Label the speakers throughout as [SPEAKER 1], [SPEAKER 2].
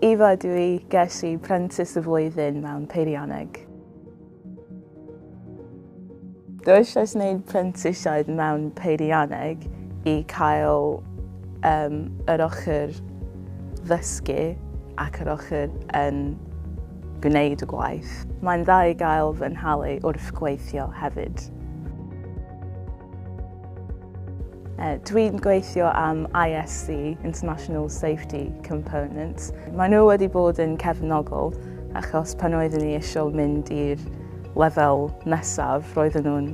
[SPEAKER 1] Eva dw i, ges i Prentis y Flwyddyn mewn Peirianneg. Dw eisiau gwneud prentisiaid mewn Peirianneg i cael um, yr ochr ddysgu ac yr ochr yn gwneud y gwaith. Mae'n dda i gael fy nhalu wrth gweithio hefyd. Dwi'n gweithio am ISC, International Safety Components. Mae nhw wedi bod yn cefnogol achos pan oeddwn ni eisiau mynd i'r lefel nesaf roedden nhw'n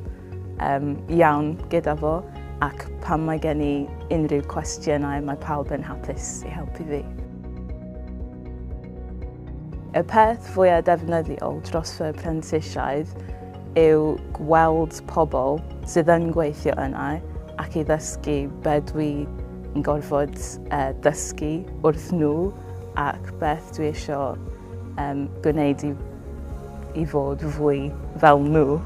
[SPEAKER 1] um, iawn gyda fo ac pan mae gen i unrhyw cwestiynau mae pawb yn hapus i helpu fi. Y peth fwyaf defnyddiol dros fy prentisiaid yw gweld pobl sydd yn gweithio yna ac i ddysgu be dwi'n gorfod e, dysgu wrth nhw ac beth dwi eisiau um, gwneud i, i fod fwy fel nhw.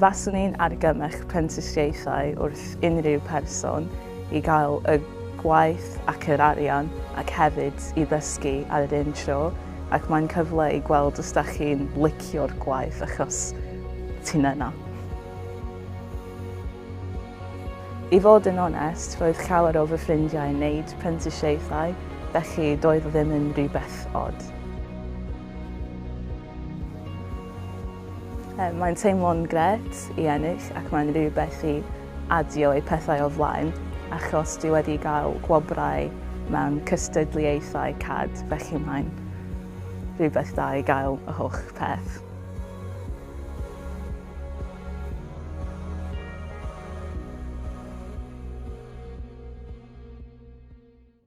[SPEAKER 1] Faswn i'n argymell prentisiaethau wrth unrhyw person i gael y gwaith ac yr arian ac hefyd i ddysgu ar yr un tro ac mae'n cyfle i gweld os da chi'n licio'r gwaith achos ti'n yna. I fod yn onest, roedd llawer o fy ffrindiau yn wneud prentisiaethau, felly doedd o ddim yn rhywbeth od. Mae'n teimlo'n gret i ennill ac mae'n rhywbeth i adio eu pethau o flaen achos dwi wedi cael gwobrau mewn cystadleuaethau cad, felly mae'n rhywbeth da i gael y holl peth.